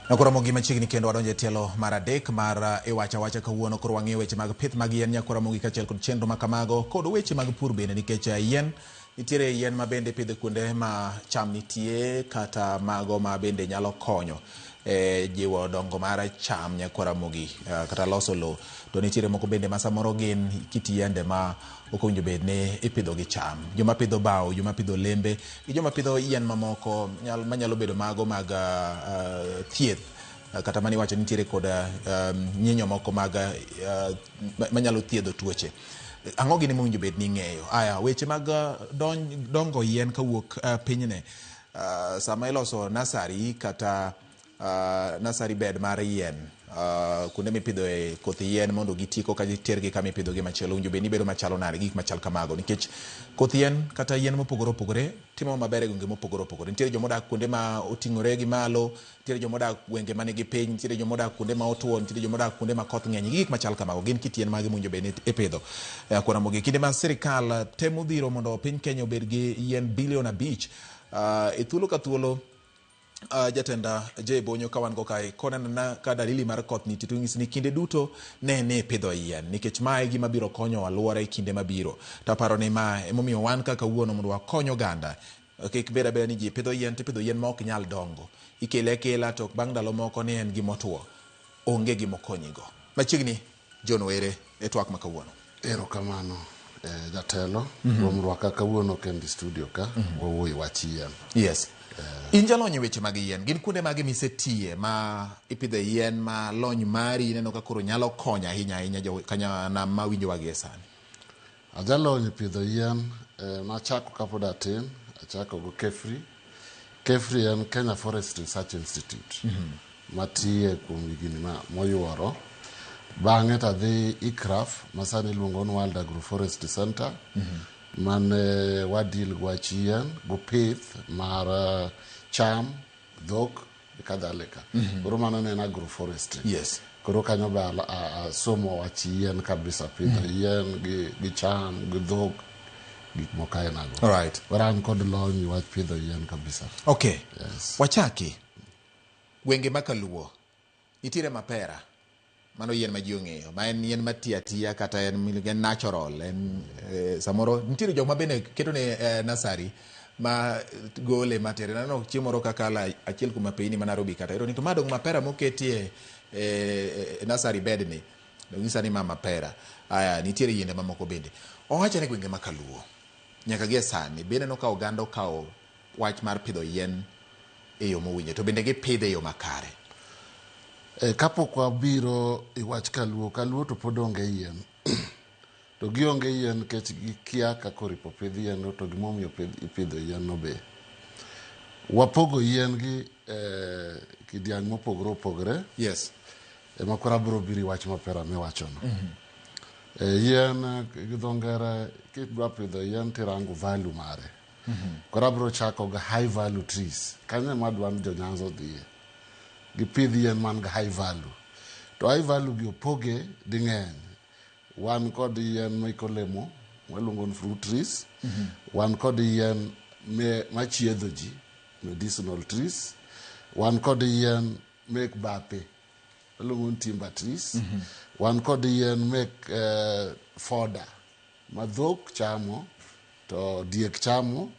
Nakoromo gi machiegni kendo wadonjo e tielo mar adek mar uh, iwacha wacha kawuono koro wang'eyo weche mag pith mag yien nyakoromo gi kachiel kod chenro ma kamago kod weche mag pur bende nikech uh, yien Nitiere yien ma bende ipidho kuonde ma cham nitie kata mago ma bende nyalo konyo e jiwo dongo mar cham nyako Ramogi eh, kata loso lowo. To nitiere moko bende ma samoro gin kit yiende ma ok owinjo bed ni ipidho gi cham. Joma pidho bao, joma pidho lembe, gi joma pidho yien mamoko nyal- manyalo bedo mago mag ah, ah, thieth. Eh, Kata mani wacho nitiere kod ah, um, nyinyo moko mag ah, manyalo thiedho tuoche. Ang'o gini mowinjo bed ni ing'eyo? Aya, weche mag dongo yien kawuok uh, pinyne uh, sama iloso nasari kata uh, nasari bed mar yien uh, kuonde mipidhoe koth yien mondo giti koka tergi kama ipidhogi machielo winjo bed ni bedo machalo nade gik machal kamago nikech koth yien kata yien mopogore opogore timo maber e gwenge mopogore opogore nitiere joma odak kuonde ma oting'ore gi malo nitiere joma odak gwenge ma nigi piny, nitiere joma odak kuonde ma otuo, nitiere joma odak kuonde ma koth ng'eny, gik machal kamago. Gin kit yien mage mowinjo bed ni ipidho e akwar Ramogi? Kinde ma sirkal temo dhiro mondo piny Kenya obed gi yien bilion abich, uh, e thuolo ka thuolo Uh, jatenda J Bonyo ka wan go kae konenana ka dalili mar koth nitie to nyisi ni kinde duto ne ni pidho yien nikech ma e gima biro konyo alwora e kinde mabiro. To aparo ni ma emomiyo wan kaka wuono mondo wakony oganda Kik bed abeda ni ji pidho yien to ipidho yien ma ok nyal dongo. Ikele akela to bang' ndalo moko ni en gima otuo. Onge gima okonyigo. Machiegni Jono ere e twak ma kawuono. Ero kamano jatelo kuom rwaka kawuono kendi studio ka. Wawuoye wach yien. Yes. In jalony e weche mag yien. Gin kuonde mage misetiye ma ipidhe yien ma lony mari ineno ka koro nyalo konyo ahinya ahinya jo kanyanam ma winjowa gie sani? Ajalony e pidho yien, eh, nachako kapod atin, achako go KEFRI. KEFRI en Kenya Forest Research Institute matiye kuom higni ma- moyuoro. Bang'e to adhi ICRAF masani iluongo ni World Agroforestry Center mane wadil gi wach yien gopith mar eh, cham dhok e kadhalika koro mano ne en agroforestry Yes. koro kanyo be ala- a- asomo wach yien kabisa pidho yien gi, gi cham gi dhok gik moko ainago Alright. koro an kod lony e wach pidho yien kabisa okay Yes. wachaki gwenge makaluo Nitiere mapera, mano yien ma ji ong'eyo, ma en yien mati atiya kata en miluongo en natural, en eh, samoro nitiere jok ma bende keto ne eh, nasari ma gole matere. Naneno chieng' moro kakala achiel kuom apeini ma Nairobi kata ero ni to ma dong' mapera moketie eh, eh, nasari bed ni dong'isa ni ma mapera. Aya, nitiere yiende mamoko bende. Owacho ni gwenge ma kaluo nyaka gie sani be ineno ka oganda okawo wach mar pidho yien e yo mowinjore to bende gipidhe e yo makare. E, kapok wabiro i wach kaluo kaluo to pod onge yien to gionge yien nikech gikia kaka oripo pidh yien no to gimomiyo pidh- ipidho yien no be wapogo yien gi e, kidiang' mopogore opogore Yes. ema koro abiro biro i wach mapera miwachono e, yien eh, gi dho ngere kidwa pidho yien tirango value mare mm -hmm. koro abiro chako ga high value trees kanyo ema adwa ni jonyanza odhiye gipidh yien man ga high value to high value gi opoge ding'eny wan kod yien miko lemo waluongo ni fruit trees mm -hmm. wan kod yien machiedho ji medicinal trees wan kod yien mek bape waluongo ni timber trees mm -hmm. wan kod yien mek uh, eh, foda ma dhok chamo to diek chamo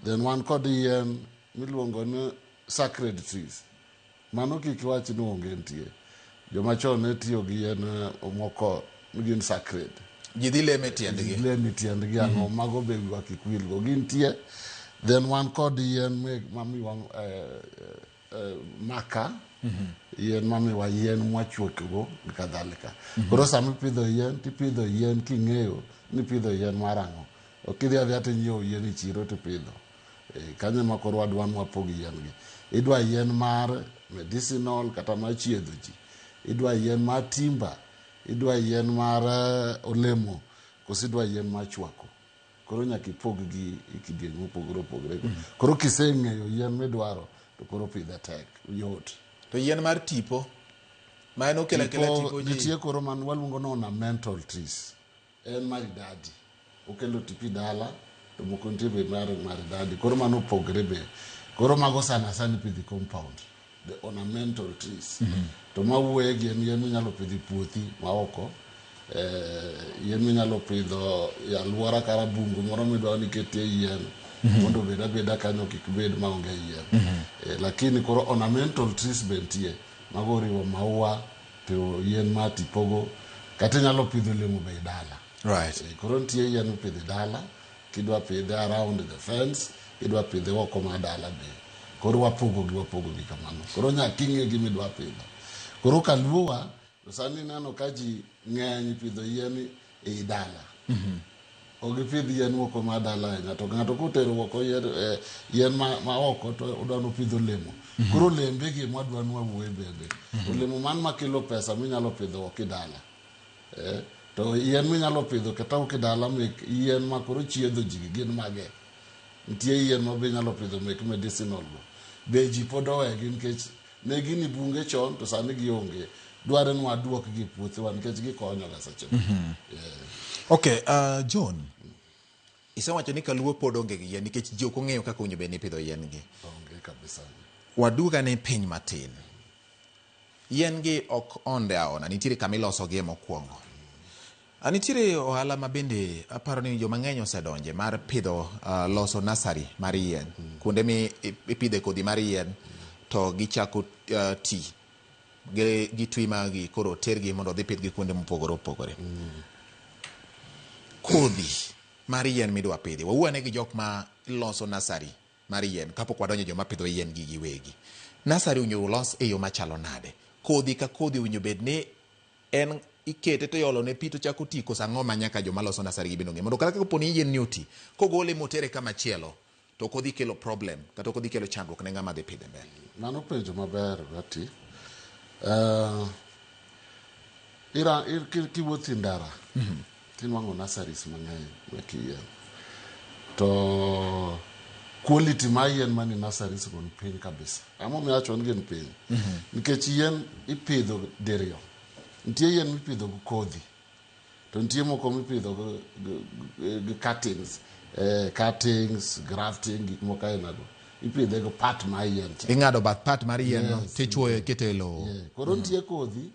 then wan kod yien miluongo ni sacred trees mano kik iwach ni onge nitie joma chon ne tiyo gi yien eh, moko ni gin sacred ji dhi leme e tiendgi lemi tiendgi ang'o mago be wiwa kik wilgo gintie then wan kod yien me- mamiwa eh, eh, maka yien mamiwa yien mwachuokgo gi kadhalika koro sama ipidho yien tipidho yien king'eyo ni ipidho yien mar ang'o ok idhi adhiya tinyiewo yien e chiro tipidho Eh, kanyo ema koro wadwa ni wapog yien gi idwa yien mar medicinal kata mar chiedho ji idwa yien mar timba idwa yien mar eh, olemo koso idwa yien mar chwako Koro nyaka ipog-gi e kidieny mopogore opogore. Koro kiseng'eyo yien midwaro, to koro pidhe tek, yot. To yien mar tipo, ma en okelo akela Tipo, tipo ji. nitie koro man waluongo ni ornamental trees. En maridadi. Okelo tipi dala, to moko nitie be mar maridadi. Koro mano opogre be. Koro mago sana sana ipidho e compound. the ornamental trees to ma wuoye gi en yien minyalo pidho e puothi ma oko eh, yien minyalo pidho e alwora kara bungu moro midwa ni ketie yien mondo obed abeda kanyo kik bed ma onge yien Eh, lakini koro ornamental trees be nitie mago oriwo maua to yien ma tipogo kata inyalo pidho olemo be e dala right Eh, koro nitie yien mipidho e dala kidwa pidhe around the fence kidwa pidhe oko ma dala be koro wapogogi wapogogi kamano koro nyaka ing'e gima idwa pidho koro kaluowa to sani ineno ka ji ng'eny pidho yien ei dala ok gipidh yien oko ma dala ahinya to ng'ato kotero oko yien, eh, yien ma, ma oko to odwa nopidh olemo koro olembe gi mwadwa nwawuoye bende olemo man makelo pesa minyalo pidho oko idala Eh, to yien minyalo pidho kata uke dala mek yien ma koro chiedho ji gi gin mage nitie yien ma be inyalo pidho mek medicinal go be ji pod owegi nikech ne gini bunge chon to sani gionge dware ni waduok gi puothewa nikech gikonyoga seche moko Eh, okay uh, john isewacho ni kaluo pod onge gi yien nikech ji ok ong'eyo kaka owinjo bed ni ipidho yien gi onge kabisa waduga ni piny matin Yien gi ok onde aona, nitiere kama iloso gie mokuongo. A nitiere ohala ma bende aparo ni joma ng'eny osedonje mar pidho uh, loso nasari mar yien mm. kuonde mi ipidhe kodhi mar yien mm. to gichako uh, ti gitwi magi koro tergi mondo odhi pidhgi kuonde mopogore opogore mm. kodhi mar yien midwa pidhi wawuane gi jok ma loso nasari mar yien kapok wadonjo joma pidho yien gi giwegi. Nasari owinjo olos e yo machalo nade? Kodhi ka kodhi owinjo bed ni en ikete to iolo ne pi to chako ti koso ang'o ma nyaka joma loso nasari gi bende ong'e mondo kata ka poni yien ni oti kogole motere kama chielo to ok odhi kelo problem kata ok odhi kelo chandruok ne ng'ama dhi pidhe mbele. Mano penjo maber Betty. Uh, ira, ir, kiwuotho e ndara mm -hmm. Tinwang'o nurseries mang'eny mek yien to quality ma yien mani nurseries go ni piny kabisa. Ang'omiyo awacho ni gin piny? Nikech yien ipidho diriyo. Nitie yien mipidho gi kodhi to nitie moko mipidho gi, gi, gi, gi cuttings, eh, cuttings, grafting, gik moko ainago. Ipidhe gi part mar yien cha. Ing'ado bath part mar yien no Yes, tichuoyo ikete e lowo. Yeah. Koro nitie kodhi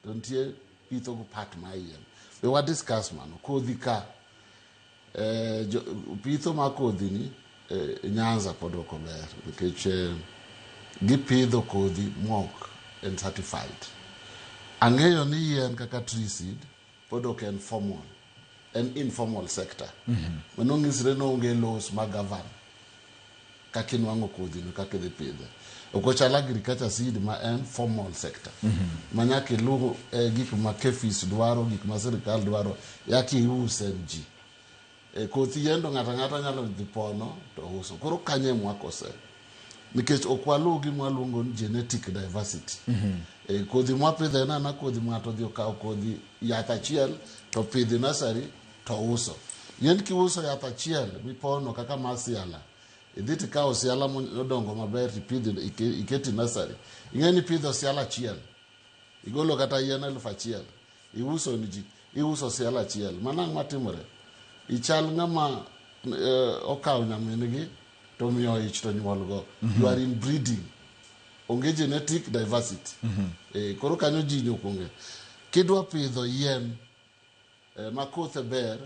to nitie pitho go part ma yien be wa discuss mano kodhi ka eh, jo, pitho ma kodhi ni eh, nyanza pod ok ober nikech eh, gipidho kodhi mok en certified ang'eyo ni yien kaka tree seed pod ok en formal en informal sector mano nyisre ni onge laws ma govern kaka inwang'o kodhi no kaka idhi pidhe ok ochal agriculture seed ma en formal sector ma nyaka iluw eh, gik ma kefis dwaro gik ma sirikal dwaro yaka ius en ji e kothi yendo ng'ato ang'ata nyalo dhi pono to uso koro kanye mwakose nikech ok waluw gi mwaluongo ni genetic diversity e, kodhi mwapidho en ana kodhi ng'ato odhi okawo kodhi yath achiel to pidhi nasari to uso yien kiuso yath achiel mipono kaka mar siala idhi tikawo siala modongo maber tipidhi ike- iketi nasari ing'e ni pidho siala achiel igolo kata yien elfu achiel iuso ni ji iuso siala achiel manang' matimore ichal ng'ama eh, okawo nyamingi to miyo ich to nyuolgo you are in breeding onge genetic diversity Eh, koro kanyo ji nyokunge kidwa pidho yien eh, ma kothe ber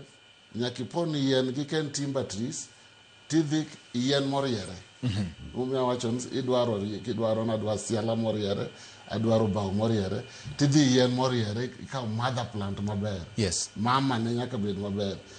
nyaka ipon yien gi ken timber trees tidhi yien moriere omiyo awacho ni idwaro ri- kidwaro nadwa siala moriere adwaro bao moriere tidhi yien moriere ikawo mother plant maber Yes. mama ne nyaka bed maber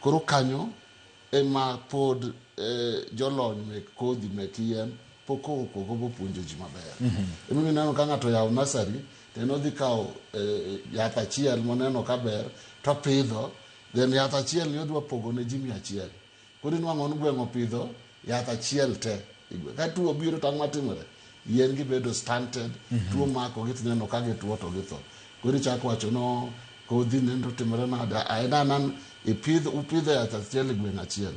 Koro kanyo ema pod jolony mek kodhi mek yien pok okogo bopuonjo ji maber. Ema omiyo ineno ka ng'ato oyawo nursery to en odhi kawo yath achiel moneno ka ber to opidho then yath achielni odwa pogo ne ji mia achiel. Koro inwang'o ni gweng' opidho Yath achiel te. Ka tuo obiro to ang' matimore? Yien gi bedo stunted, tuo mako gi tineno ka gituo to githo. Koro ichako wacho no kodhi nendo timore nade? A- En anan ipidh upidho yath achiel e gweng' achiel.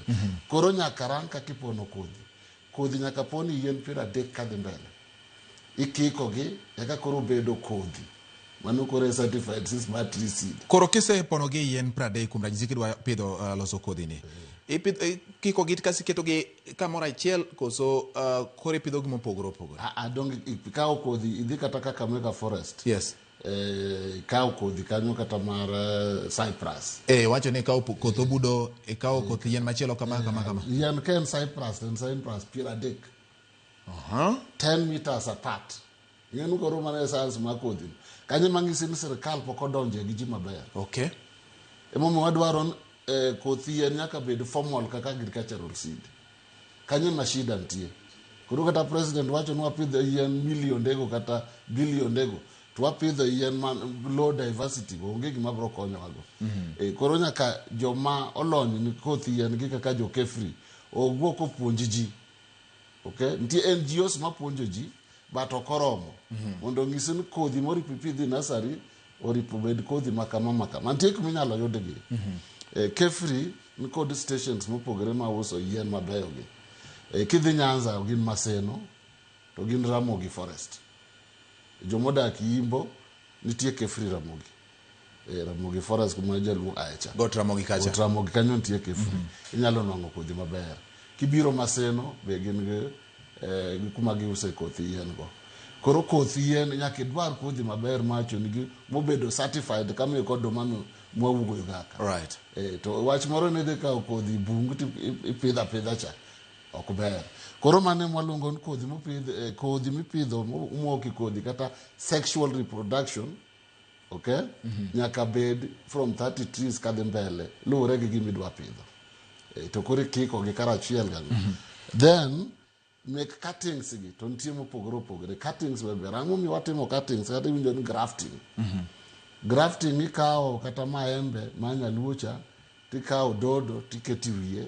Koro nyaka rang kaka ipono kodhi. Kodhi nyaka pon i yien piero adek kadhi mbele. Ikiko gi eka koro bedo kodhi. Mano koro e certified si smart tree seed. Koro kise pono gi yien pradek kuom ranyisi kidwa pidho uh, loso kodhi ni. Ipidho ikiko gi kasi keto gi kamoro achiel koso uh, koro ipidho gi mopogore opogore. A a dong ikawo kodhi idhi kata kaka mega forest. Yes. Eh, ikawo kodhi kanyo kata mar eh, cyprus eh wacho ni ikawo koth obudo ikawo koth yien machielo kama kama kama yien ka en cyprus en cyprus piero adek Uh-huh. 10 meters apart ing'enu koro mana e science ma kodhi kanyo mang'isi ni sirikal pok odonje gi ji maber okay emomiyo wadwaro ni, eh, kothi yien nyaka bed formal kaka agricultural seed kanyo ma shida nitie koro kata president wacho ni wapidho yien milionde-go kata bilionde-go to wapidho yien ma low diversity go onge gima biro konyowago Eh, koro nyaka joma olony ni kothi yien gi kaka jo kefri owuo kopuonj ji okay nitie ngos mapuonjo ji but ok oromo mondo onyisi ni kodhi moro ipidhi nasari oripo bed kodhi makama makama nitie kuma inyalo yudgi Eh, kefri nikod stations mopogore ma uso yien mabeyogi Eh, kidhi nyanza gin maseno to gin ramogi forest jomodak yimbo nitie kefri ramogi eh, Ramogi Forest kuma jaluo aecha. Got Ramogi kacha. Got Ramogi kanyo nitie kifni. Mm -hmm. Inyalo nwang'o kodhi maber. Kibiro Maseno be gin gi eh, kuma giuse kothi yien go. Koro kothi yien nyaka idwar kodhi maber macho nigi mobedo certified kama e kod domano mwawugo gaka. Right. Eh, to wach moro ne dhi kawo kodhi bungu to ipidha pidha cha. Ok ber. Koro mane mwaluongo ni kodhi mopidh eh, kodhi mipidho moki kodhi kata sexual reproduction ok nyaka bed from 30 trees kadhi mbele luwore gi gima idwa pidho Eh, to koro ikiko gi karachiel ga then mek cuttings gi to nitie mopogore opogore cuttings be ber ang'o miyo watimo cuttings kata iwinjo ni grafting grafting ikawo kata maembe ma nyaluo cha tikawo dodo tiketi wiye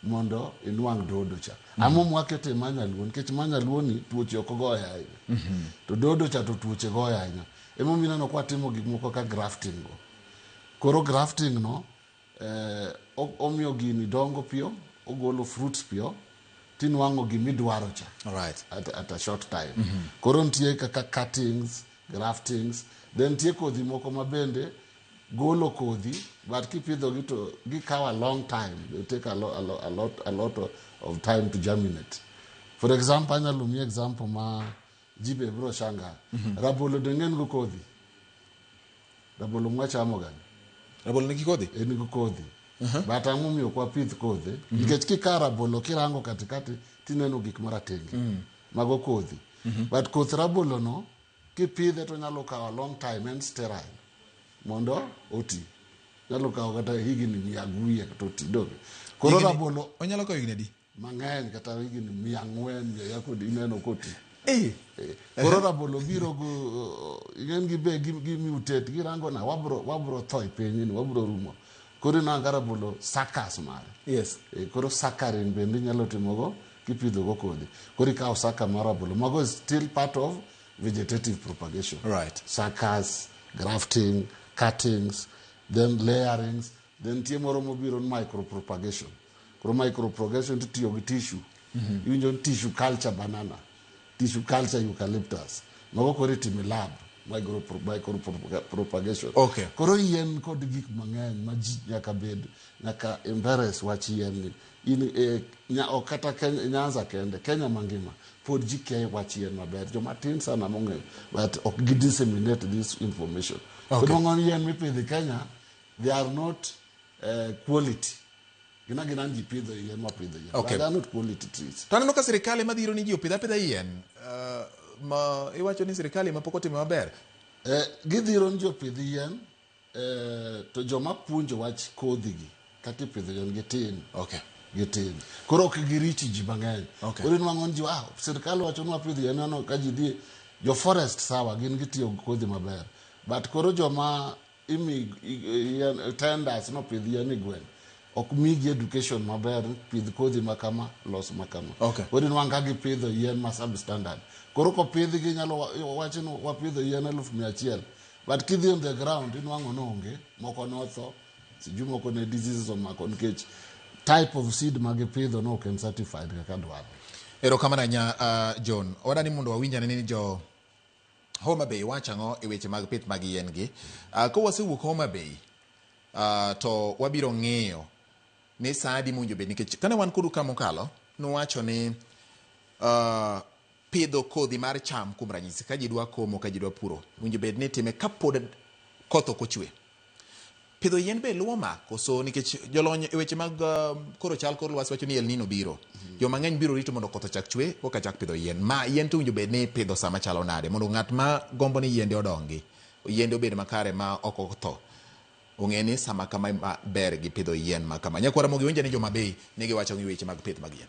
mondo inwang' dodo cha ama mwakete ma nyaluo nikech ma nyaluo ni tuoche ok goye ahinya to dodo cha to tuoche goye ahinya emomiyo ineno kwa timo gik moko ka grafting go koro grafting no eh, o- omiyo gini dongo piyo ogolo fruits piyo tinwang'o gimidwaro cha right at, at a short time koro nitie kaka cuttings graftings then nitie kodhi moko ma bende golo kodhi but kipidhogi to gikawo a long time they take a, lo, a, lo, a, lot, a lot of time to germinate for example anyalo miyi example ma ji be biro shanga mm-hmm. rabolo deng'en go kodhi rabolo mwachamo gani rabolo nigi kodhi en gi kodhi uh-huh. but ang'o miyo ok wapidh kodhi mm-hmm. nikech kikawo rabolo kirango katikati tineno gik maratenge mm. mago kodhi mm-hmm. but koth rabolono Kipidhe to nyalo kawo long time en sterile mondo oti. Nyalo kawo kata higni mia aguye to oti donge. Koro Higni- rabolo onyalo kawo higni adi mang'eny kata higni mia ang'wen mia yako ineno koti. Eh, Eh, Koro rabolo biro go ing'en gi be gi gi mutate girango na wabro wabro tho e piny ni wabro rumo. Koro inanga rabolo sakas mare. yes Eh, Koro sakarin bende inyalo timogo kipidho go kodhi koro ikawo saka mar rabolo mago is still part of vegetative propagation Right. suckers grafting cuttings then layerings then nitie moro mobiro ni micropropagation koro micropropagation titiyo gi tissue iwinjo ni tissue culture banana tissue culture eucalyptus mago koro itime lab micropro- micropropagation Okay. koro yien kod gik mang'eny ma ji nyaka bed nyaka embarrass wach yien ni In e, nya, ok kata Kenya, Nyanza kende, Kenya mangima pod ji kia wach yien maber. Joma tin sana mong'eyo, but ok gi disseminate this information. Okay. Okay. Kudwang'o ni yien mipidho e Kenya, they are not uh, quality. Gina gina ni ji pidho yien mapidho yien. Okay. But they are not quality trees. To aneno ka sirkal ema dhiro ni ji opidh apidha yien. Uh, ma iwacho ni sirkal ema pok otimo maber. Eh, gidhiro ni jopidh yien Eeh, to joma puonjo wach kodhi gi kaka ipidho yien gitin. Okay. Gitin. Koro ok girich ji mang'eny. Okay. Koro inwang'o ni ji, ah, sirkal wacho ni wapidh yien, ineno ka ji dhi, jo forest sawa, gin gitiyo gi kodhi maber. But koro joma imi i- yien, tenders no pidh yien e gweng', ok migi education maber, pidh kodhi ma kama, los ma kama. Okay. Koro inwang'o ka gipidho yien ma substandard. Koro kopidhgi inyalo wa- wach ni wapidho yien eluf mia achiel, But kidhi on the ground inwang'o ni onge, moko notho, sijui moko ne diseases omako nikech type of seed ma gipidho ne ok en certified kaka dwarore. Erokamano ahinya uh, John. Oda ni mondo wawinj ane ni jo Homa Bay wacho ang'o e weche mag pith mag yien gi. Uh, ka wasewuok Homa Bay uh, to wabiro ng'iyo ni saa adi mowinjo bed nikech kane wan kodu ka mokalo nuwacho ni uh, Pidho kodhi mar cham, kuom ranyisi, ka ji dwa komo, ka ji dwa puro, owinjo bed ni itime ka pod koth ok ochwe. Pidho yien be luwo ma, koso? Nikech jolony e weche mag koro chal kor lwasi wacho ni El Nino biro. Jo mang'eny biro rito mondo koth ochak chwe koka chak pidho yien. Ma yien to owinjo bed ni ipidho sa machalo nade mondo ng'at ma gombo ni yiende odongi, yiende obed makare ma ok otho, ong'e ni sama kama ema ber gi pidho yien ma kama? Nyakwar Ramogi, owinjo ni Joma Bay ne giwacho gi weche mag pith mag yien.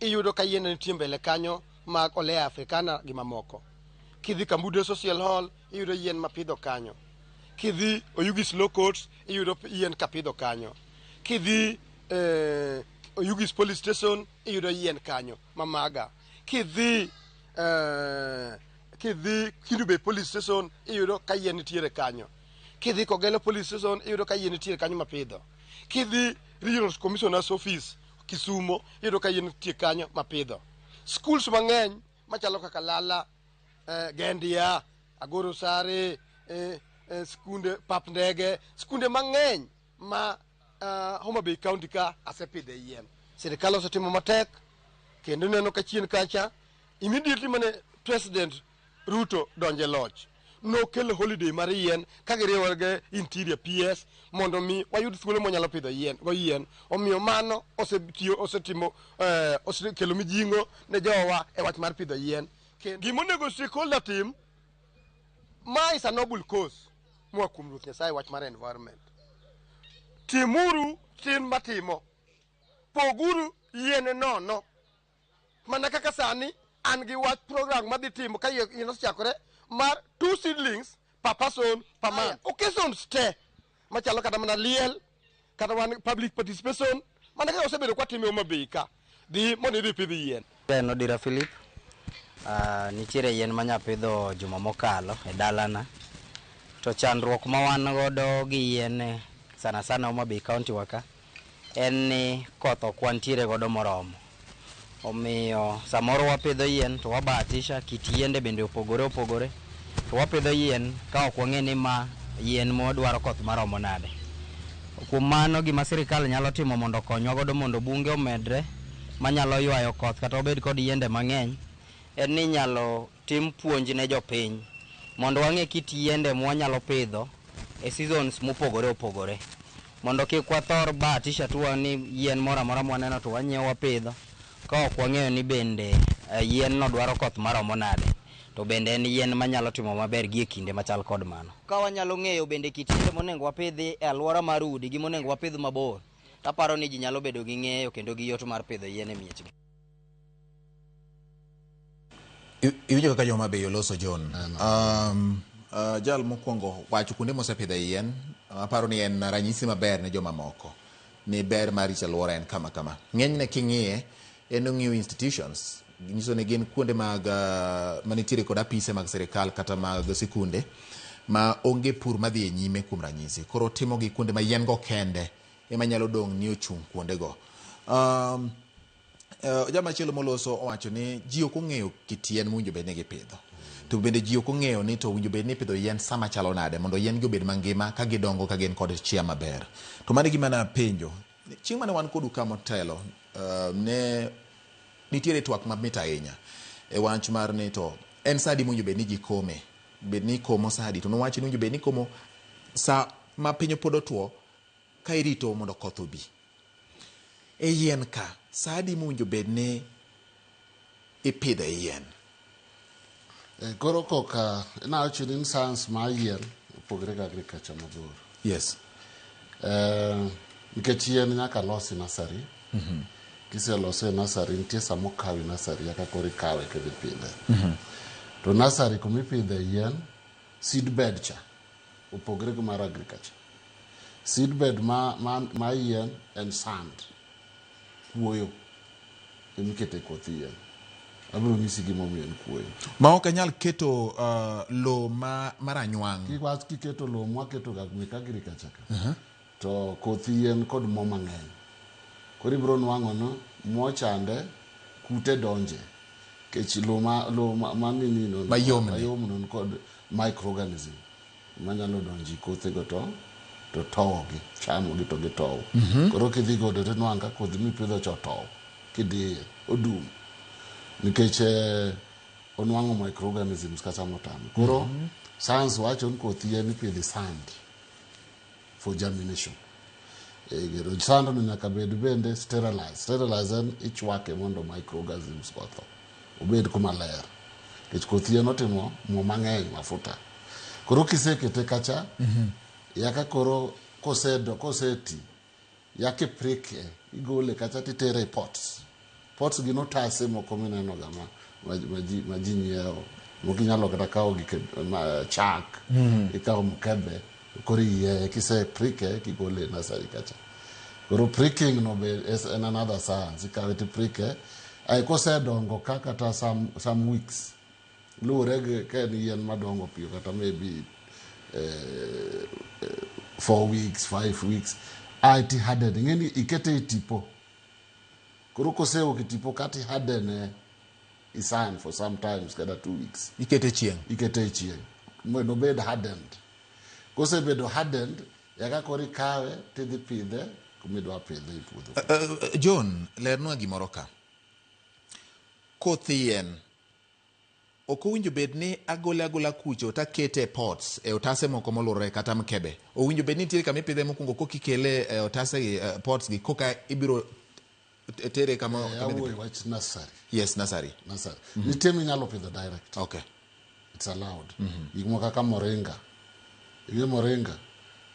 iyudo ka yiende nitie mbele kanyo mag olea africana gi mamoko kidhi kambude social hall iyudo yien mapidho kanyo kidhi oyugis low court iyudo yien kapidho kanyo kidhi eh, oyugis police station iyudo yien kanyo mamaga kidhi eh, kidhi kindu bay police station iyudo ka yien nitiere kanyo kidhi kogelo police station iyudo ka yien nitiere kanyo mapidho kidhi regional commissioner's office Kisumo iyudo ka yien nitie kanyo mapidho. Schools mang'eny machalo kaka Lala, eh, Gendia, Agoro Sare, eh, eh, skunde pap ndege, skunde mang'eny ma ah, Homa Bay County ka asepidhe yien. Sirikal osetimo matek kendo ineno ka chien kacha immediately mane president Ruto donjo e loch, nokel holiday mar yien ka giriwore gi Interior PS mondo mi wayud thuolo mwanyalo pidho yien go yien. Omiyo mano osetiyo osetimo eh, osekelo mijingo ne jowa e wach mar pidho yien. Kendo gima onego stakeholder tim, ma is a noble cause moa kuom Ruoth Nyasaye wach mar environment. Timuru chin matimo, poguru yien nono Mana kaka sani an gi wach program madhi timo ka yie yie osechakore mar two seedlings per person per month. Occasions te machalo kata mana liel kata wan public participation mana kaka osebedo kwatime Homa Bay ka dhi mondo idhi pidh yien. En Odira Philip. Ah, nitiere yien ma nyapidho juma mokalo e dalana. To chandruok ma wan godo gi yien eh, sana sana Homa Bay County wa ka en ni koth ok wantiere godo moromo. Omiyo samoro wapidho yien to wabahatisha, kit yiende bende opogore opogore. To wapidho yien ka ok wang'eyo ni ma yien madwaro koth maromo nade. Kuom mano gima sirkal nyalo timo mondo okonywa godo mondo bunge omedre manyalo ywayo koth kata wabed kod yiende mang'eny en ni inyalo Tim puonj ne jopiny mondo wang'e kit yiende mwanyalo pidho e seasons mopogore opogore mondo kik wathor bahatisha atua ni yien moro amora mwaneno to wanyiewo wapidho ka ok wang'eyo ni bende yien no dwaro koth maromo nade to bende en yien manyalo timo maber gie kinde machal kod mano. Ka wanyalo ng'eyo bende kit yiende monengo wapidhi e aluora mar udi gi monengo wapidh mabor, taparo ni ji nyalo bedo gi ng'eyo kendo gi yot mar pidho yien e miechgi. Iwinjo kaka joma beyo loso John. Um, uh, jal mokwongo wacho kuonde mosepidhe yien aparo ni en ranyisi maber ne joma moko ni ber mar rito alwora en kama kama. Ng'enyne king'iye en ong'iyo institutions nyiso ni gin kuonde mag uh, manitiere kod apise mag sirikal kata mag sikunde ma onge pur madhi e nyime kuom ranyisi koro timogi kuonde ma yien go kende ema nyalo dong' ni ochung' kuondego um, Eh, jama chielo moloso owacho ni ji ok ong'eyo kit yien mowinjo bed ni gipidho to bende ji ok ong'eyo ni to owinjo bed ni ipidho yien sama chalo nade mondo yien gi obed mangima ka gidongo ka gin kod chia maber to mano e gima napenjo chieng' mane wan kodu ka motelo eh, ne nitiere twak mamit ahinya e wach mar ni to en sa adi mowinjo bed ni ji kome bed ni ikomo sa adi to nowachi ni owinjo bed ni ikomo sa ma piny pod otwo Ka irito mondo koth obi e yien ka, sa adi mowinjo bed ni ipidho e yien? E, koro koka inawacho ni science mar yien opogore gi agriculture mabor yes e, nikech yien nyaka losi nasari mm -hmm. kiselose e nasari nitie sama okawi nasari aka koro ikawe kendo ipidhe mm -hmm. to nasari kuma ipidhe yien seed bed cha Opogre gi mar agriculture. Seedbed ma, ma, ma yien en sand. Kuoyo ema ikete koth yien. Abiro nyisi gima omiyo en kuoyo. Ma ok anyal keto uh, lowo ma, ma ranywang'. Kik wach kiketo lowo mwaketoga mek agriculture ka. To koth yien kod mo mang'eny. Koro ibiro nwang'o ni mo chande, kute donje. Kech lo ma, lo ma, ma nini no, Mayomni. mayom no nikod microorganism manyalo donjo i kothe go to, to towogi, chamogi to gitow. Koro kidhi godo to inwang' ka kodhi mipidho cha otow, kidiye, odum. Nikech eh, onwang'o microorganisms kata motame. Koro science wacho ni koth yien ipidho e sand. for germination egero sando no nyaka bed bende sterilize sterilize en ichwake mondo microorganisms otho obed kuma ler nikech koth yien otimo mo mang'eny mafuta koro kisekete kacha yaka koro kosedo koseti Ya kiprik e, igole kacha to itere e pots. Pots gin otase moko mineno ga ma, ma, ma, ji, ma ji nyiewo. Moko inyalo kata kawo gik e- ma, chak, ikawo mkebe, koro iyieye kise prike kigole e nasari kacha. Koro pricking no be is an another science. Ikawe to iprike. Ai kosedongo ka kata some, some weeks, Luwore gi ka en yien madongo piyo kata maybe eh, eh, four weeks, five weeks, ae ti harden. Ing'eni ikete e tipo. Koro koseok e tipo kati harden e isan for sometimes kata two weeks. Ikete chieng'. Ikete e chieng'. Mondo obed hardened. Kosebedo hardened, yaka koro ikawe tidhi pidhe kumidwa pidhe e puodho. Uh, John, lernwa gimoro ka. Koth yien Ok owinjo bed ni agole agola kucho to akete e pots, e otase moko molurore kata mkebe. Owinjo bed ni nitiere kama ipidhe mokwongo koka ikele e otase gi, eh, pots gi koka ibiro t- tere kama Eh, kama idhi awuoyo pidhe. wach nursery. Yes, nursery. Nursery. Nitie minyalo pidho direct. Okay. It's allowed. Gik moko kaka moringa. Ing'e moringa?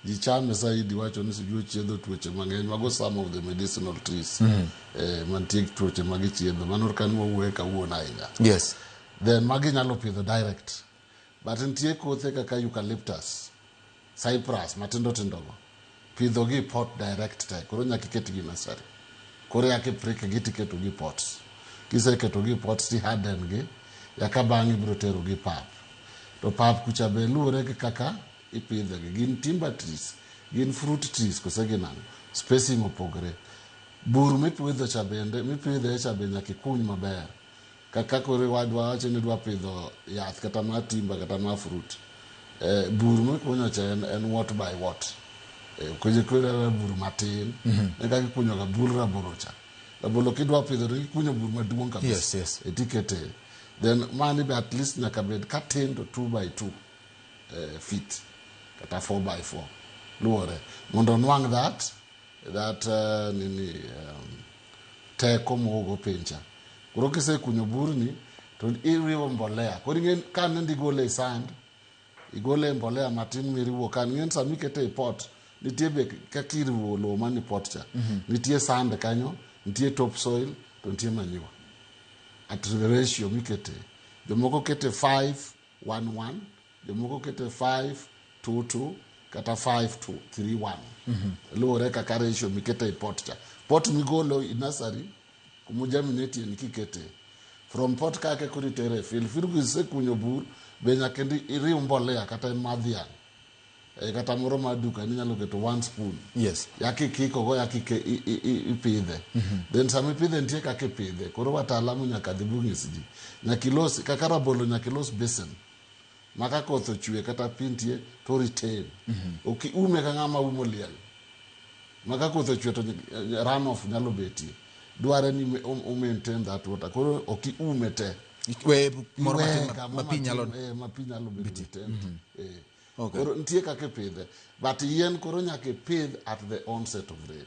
Ji chame saidi iwacho ni sijui ochiedho tuoche mang'eny. Mago some of the medicinal trees. Mm. Eh, mantie gi tuoche ma gichiedho. Mano ka ni wawuoye kawuono ahinya. Yes. Then magi inyalo pidho direct. But nitie kothe kaka eucalyptus, cyprus matindo tindogo. pidho gi pot direct te koro nyaka iket gi nursery koro yaka iprik gi tiketo gi pot kiseketo gi pot ti harden gi yaka bang' ibiro tero gi pap to pap kucha be luwore gi kaka ipidhe gi gin timber trees gin fruit trees kose gin ang'o spacing opogre bur mipidho cha bende mipidhe cha be nyaka ikuny maber Kaka koro wadwa wacho ni dwa pidho yath kata ma timber kata ma fruit. Eh, bur mikunyo cha en, en what by what. Eh, kunyo kunyo ra bur matin. Ne kaka ikunyo ga bur rabolo cha. Rabolo kidwa pidho to ikunyo bur maduong' kabisa. Yes, yes. Eh, tikete. Then mani be at least nyaka bed katin to 2 by 2 eh, feet kata 4 by 4 luwore mondo onwang' that that uh, nini um, teko mogo piny cha. Koro kisekunyo burni to iriwo mbolea. Koro ing'e ka nende igole e sand, igole e mbolea matin miriwo kan. Ing'e ni sama ikete e pot, nitie be kaka iriwo lowo man e pot cha. Nitie sand kanyo, nitie top soil, to nitie manyiwa. At ratio mikete. Jomoko kete 5, one one jomoko kete five two two kata five two three one luwore kaka ratio mikete e pot cha pot migolo i nasari kuma germinatie ni kikete from pot kake koro itere e field field kisekunyo bur be nyaka iriw mbolea kata madhiang' Eh, kata moro mar duka inyalo keto one spoon yes yaki kikogo yaki ke- i- i- i- ipidhe then sama ipidhe nitie kaka ipidhe koro wataalamu nyaka dhi bung'is ji nyaka ilos kaka rabolo nyaka ilos basin ma ka koth ochwe kata pi nitie to retain ok iume ka ng'ama umo liel ma ka koth ochwe to runoff nyalo betie dware ni me- u- u maintain that water koro ok iume te Iwe moro Iwe matin ma- kama ma pi matin, nyalo eh, ma pi nyalo bedo e tent. Eh. Okay. Koro nitie kaka ipidhe. But yien koro nyaka ipidh at the onset of rain.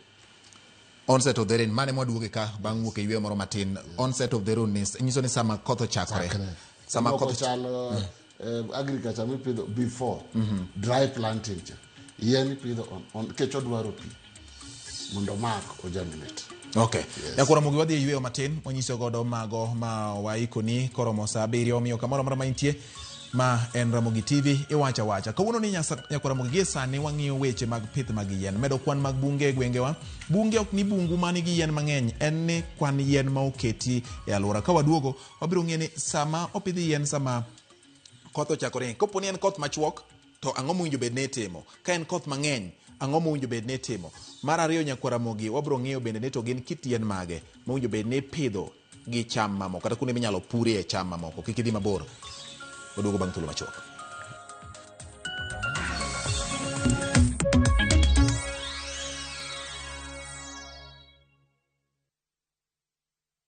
onset of the rain mane mwaduoge ka bang' wuok e yweyo moro matin onset of the rain ni- nyiso ni sama koth ochakore Chakre. sama Moko koth chalo eh, agriculture mipidho before dry planting cha yien ipidho on- on- nikech odwaro pi mondo mak ojaminate Okay. Yes. Dakoro Mugi wadhi e yueyo matin mwanyiso godo mago ma waikoni koromo saa abiriyo omiyo kamoro amora ma intie ma en Ramogi TV iwacha wacha. Kawuono ni nyasa- nyakora Mugi gie sani wang'iyo weche mag pith mag yien. Medo kwan mag bunge e gwengewa. Bunge ok ni bungu ma nigi yien mang'eny, en ni kwan yien ma oketi e alwora. Ka waduogo Wabiro ng'eyo ni sama opidh yien sama koth ochako ringe. Kopo ni en koth machuok to ang'o mowinjo bed ni itimo? Ka en koth mang'eny ang'o mowinjo bed ni itimo? Mar ariyo nyakwara mogi wabiro ng'eyo bende ni to gin kit yien mage mowinjo bed ni ipidho gi cham mamoko kata kuonde minyalo purie cham mamoko kik idhi mabor. Waduogo bang' thuolo machuok.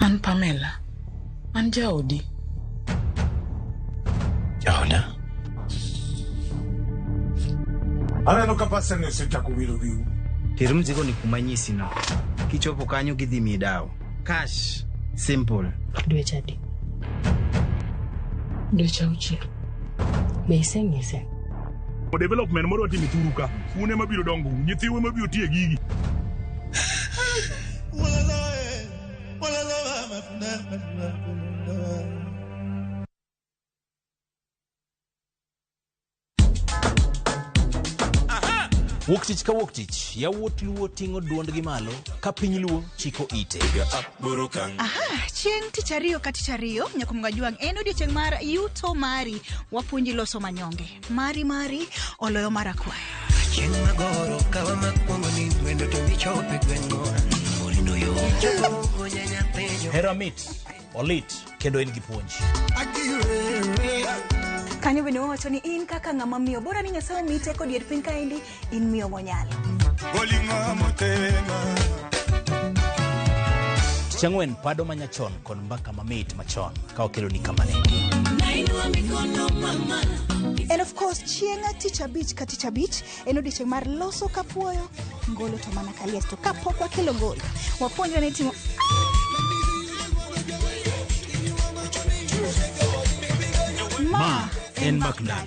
An Pamela. An jaodi. Jaoda? Aneno ka pasani osechako wiro wiu. Ter mzigo ni kuma nyisi no. Kichopo kanyo gidhi miyi dawo. Cash. Simple. Dweche adi? Dweche auchiel. Be iseng'ise? development moro watimo thuru ka un ema biro dongo nyithiu ema biro tiye gigi wuok tich ka wuok tich yawuot luo ting'o duondgi malo ka piny luo chiko ite Aha, chieng' tich ariyo ka tich ariyo nyakumga juang' en odiechieng' mar yuto mari wapuonji loso manyonge mari mari oloyo mar akwayo Chieng' magoro kawa makwongo ni wendo to michope gweng'wa Morindo yo Jogo nyanya penjo hera mit olit kendo en gi puonj kanyo bende wawacho ni in kaka ng'ama miyo bora ni nyasaye omiyi teko dier piny kaendi in miyo monyalo bolingo motema Tich ang'wen, pado ma nyachon kod mbaka mamit machon ka wakeloni kamane. and of course chieng' tich abich ka tich abich en odiechieng' mar loso kapuoyo ngolo to mana Kaliesto kapok wakelo gol wapuonjwa ni timo Ma en Makdan.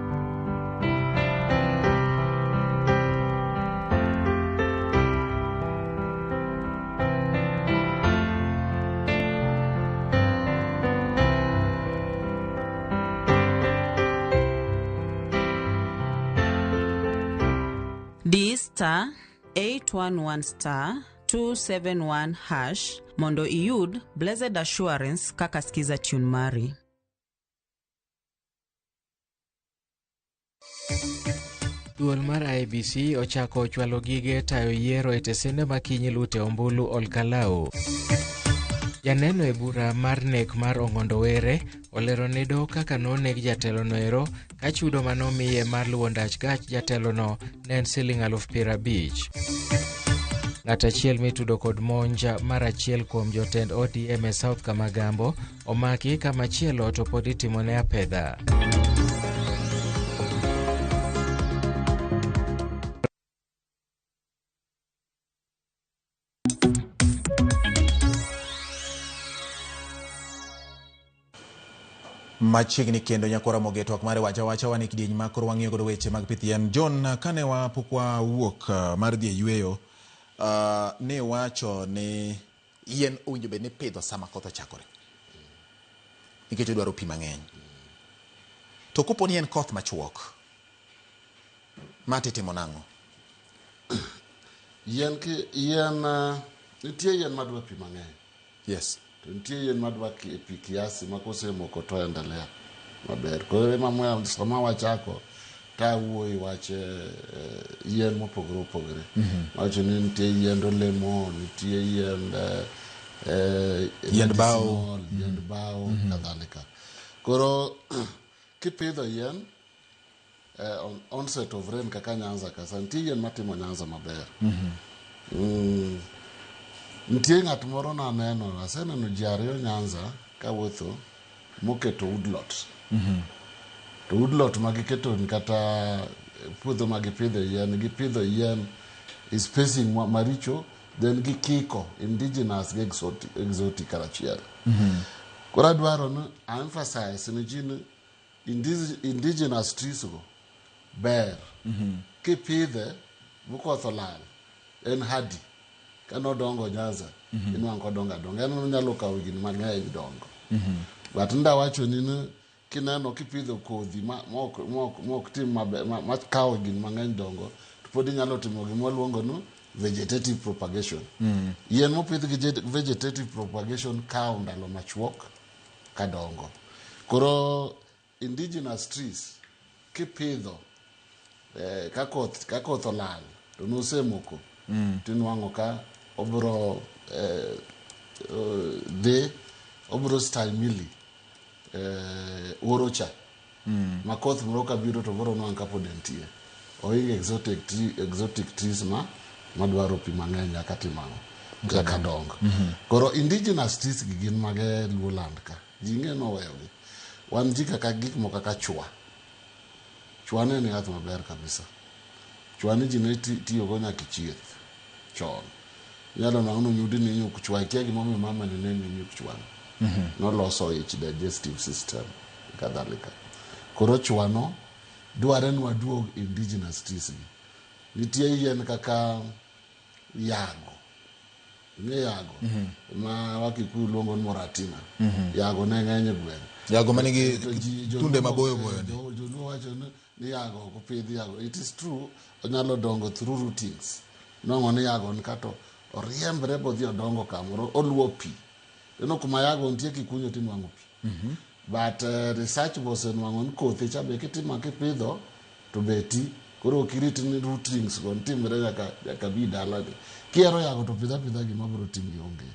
di star 811 star 271 hash mondo iyud blessed assurance kaka skiza tune mari Duol mar IBC ochako chwalo gige tayo yiero e tesende ma kinyi lute ombulu Olkalau. Janeno e bura mar nek mar Ong'ondo Were olero ne doho kaka noneg jatelono ero ka chudo ma nomiye mar luwo ndach gach jatelono ne en siling aluf piero abich. Ng'at achiel mitudo kod monj mar achiel kuom jotend ODM e South Kamagambo Omaki kama chielo to pod itimone apedha. machiegni kendo nyakora moge twak mare wacha wacha wane kidieny ma koro wang'iyo godo weche mag pith yien john kane wapok wawuok uh, mar dhi e yueyo uh, ne wacho ni Yien owinjo bed ni pidho sama koth ochakore nikech odwaro pi mang'eny. To kopo ni en koth machuok, ma titimo nang'o? Yien ki yien eh, nitie yien madwa pi mang'eny. Yes. To nitie yien madwa ki- pi kiasi ma kosemoko to endelea maber. Koro ema moya sama wachako Ka awuo e wach yien mopogore opogore, wacho ni nitie yiend olemo, nitie yiend yiend bao, yiend bao kadhalika. Koro kipidho yien on onset of rain kaka Nyanza ka sa, nitie yien matimo Nyanza maber. Mm, nitie ng'at moro naneno, aseneno ji ariyo Nyanza kawuotho moketo woodlot to woodlot ma giketo ni kata puodho ma gipidho yien gipidho yien e spacing ma- maricho then gikiko indigenous gi exotic, exotic karachiel koro adwaro ni aemphasize ni ji ni Indig- indigenous trees go ber kipidhe mokoth olal en hadi kane odongo nyanza inwang' kodongo adonga en onyalo kawo higni mang'eny dongo but nda wachoni ni kineno kipidho kodhi ma- mok mok- mok tim mabe- ma- makawo higni mang'eny dongo to pod inyalo timo gima waluongo ni vegetative propagation yien mopidh gi jet- vegetative propagation kawo ndalo machuok kadongo. Koro indigenous trees kipidho eh, ka koth ka koth olal to nosemoko mm. tinwang'o ka obro eh, eh, dhi obro stahimili eh, oro cha Makoth moro ka biro to koro onwang' ka pod entie. Ohingo exotic tree, exotic trees ma madwaro pi mang'eny nyaka tim ang'o? Nyaka dong. Koro indigenous trees gi gin mage Luo land ka? Ji ing'e ni oweyogi. Wan ji kaka gik moko kaka chwa. Chwa ne en yath maber kabisa. Chwani ji ne tiyogo nyaka e chieth chon. Inyalo nwango ni onyudi ni nyuk chwa, ikia gimomiyo mamani ne ni nyuk chwani. Mhm. Noloso ich, digestive system, kadhalika. Koro chwano dware ni waduog indigenous trees gi. Nitie yien kaka yago. Ing'e yago? Mhm. Ma wakikuyu luongo ni moratina. Mhm. Yago ne ng'eny e gweng'. Yago manigi tunde maboyo boyo ni. Joluo wacho ni ni yago ok pidh yago it is true onyalo dongo through routings nongo ni yago ni kato oriembre bodhi odongo kamoro oluo pi eno kuma yago nitie kikunyo tinwang'o pi mhm. but uh, research bosenwang'o ni kothe cha be kitimo kipidho to be ti koro ok irit ni rootrings go nitimre nyaka nyaka bi dalani kihero yago to pidha pidha gima biro timi onge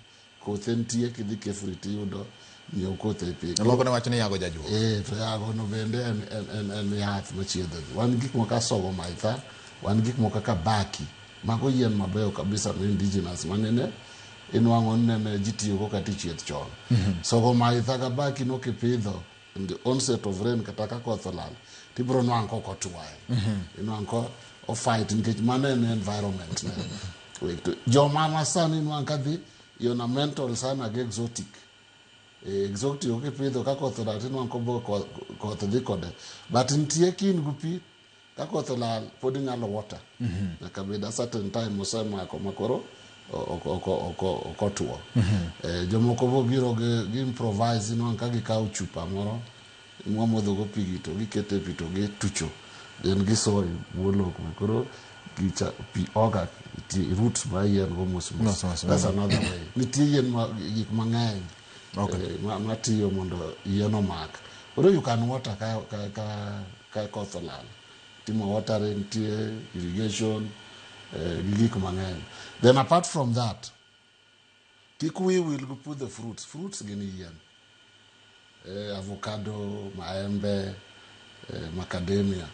Kothe nitie kidhi Kefri tiyudo nyiew kothe e piny. Joloko ne wacho ni yago jajuok. Eh, to yago no bende en, en, en, en yath machiedho ji. Wan gik moko kaka sogo maitha, wan gik moko kaka baki. Mago yien mabeyo kabisa ma indigenous ma nene inwang'o ni nene ji tiyogo kata e chieth chon. Sogo maitha ga baki no kipidho in the onset of rain kata ka koth olal tibiro nwang' kok otwo ahinya inwang' ko ofight nikech mano en environment ne Wek to- joma ma sani inwang' kadhi ornamental sana gi exotic Eh, exotic kipidho ka koth olal tinwang' kobo koth dhi kode but nitie kin gu pi Ka koth olal pod inyalo water nyaka bed a certain time osemako makoro okotwo. Eh, Jomoko bo biro gi gi improvise inwang' ka gikawo chupa moro mwamodhogo pigi to gikete pi to gitucho then gisoyo bwo lowo kuma koro gicha pi oga ti- roots ma yien go mos mos. Mos mos, That's mm. another way. Nitie yien ma gik mang'eny Okay. eh, ma- matiyo mondo yien omak koro you can water ka, ka, ka, ka koth olal timo watering nitie irrigation eh, gi gik mang'eny then apart from that kik wiyi wil gi pudho fruits fruits gin yien eh, avocado maembe eh, macadamia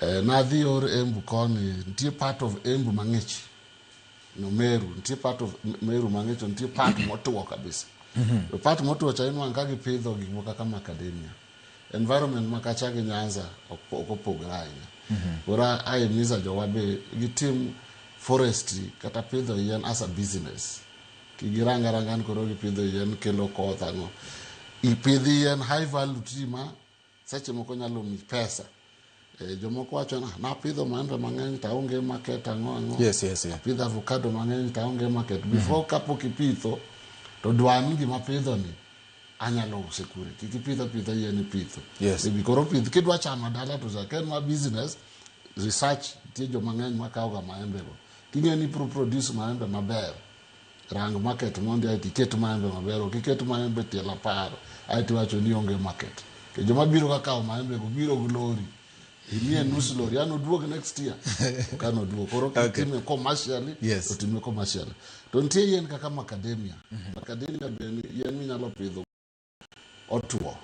eh, nadhi or embu koni nitie part of embu mang'ich no meru nitie part of M- meru mang'e to nitie part motuo kabisa to part motuo cha inwang' ka gipidho gik moko kaka macadamia environment ma kacha gi nyanza ok ok opogre ahinya koro a- ahimiza jowa be gitim forestry kata pidho yien as a business kigirang aranga ni koro gipidho yien kelo koth ang'o ipidh yien high value tree ma Seche moko nyalo mi pesa. E, jomoko wacho na napidho maembe mang'eny to aonge market ang'o ang'o. Yes, yes, yes. Apidho avocado mang'eny to aonge market. Mm-hmm. Before kapok ipitho to dwa ni gima pidho ni anyalo use kure. Kik ipidho pidho yien ipitho. Yes. Ebi koro pith kidwa chama dala to za ken ma business research tie joma ng'eny makawo ga maembe go. King'e ni pro produce maembe maber. Rang market mondi aeto iket maembe maber, ok iket maembe tiel apar aeto iwacho ni onge market. To joma biro ka kawo maembe go biro gi lori. Imiye nus lori, an oduog next year. Ok an oduog. Koro Okay. kitime commercially, Yes. to time commercially. To nitie yien kaka macadamia. Macadamia be en yien minyalo pidho otuo.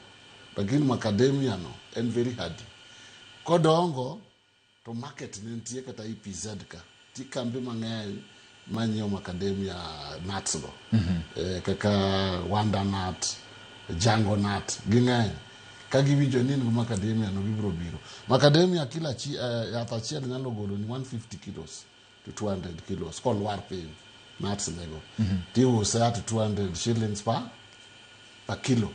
Lakini macadamia no en very hardy. Kodongo to market ne nitie kata i PZ ka. Ti kambi mang'eny ma nyiewo macadamia nuts go. Eh, kaka wanda nut, jango nut, ging'eny. Ka giwinjo ni in gi macadamia no gibiro biro. Macadamia kila chi, eh, yath achiel nyalo golo ni 150 kilos. to 200 kilos kolwar piny nuts nego mhm. tiuse at 200 shillings pa pa kilo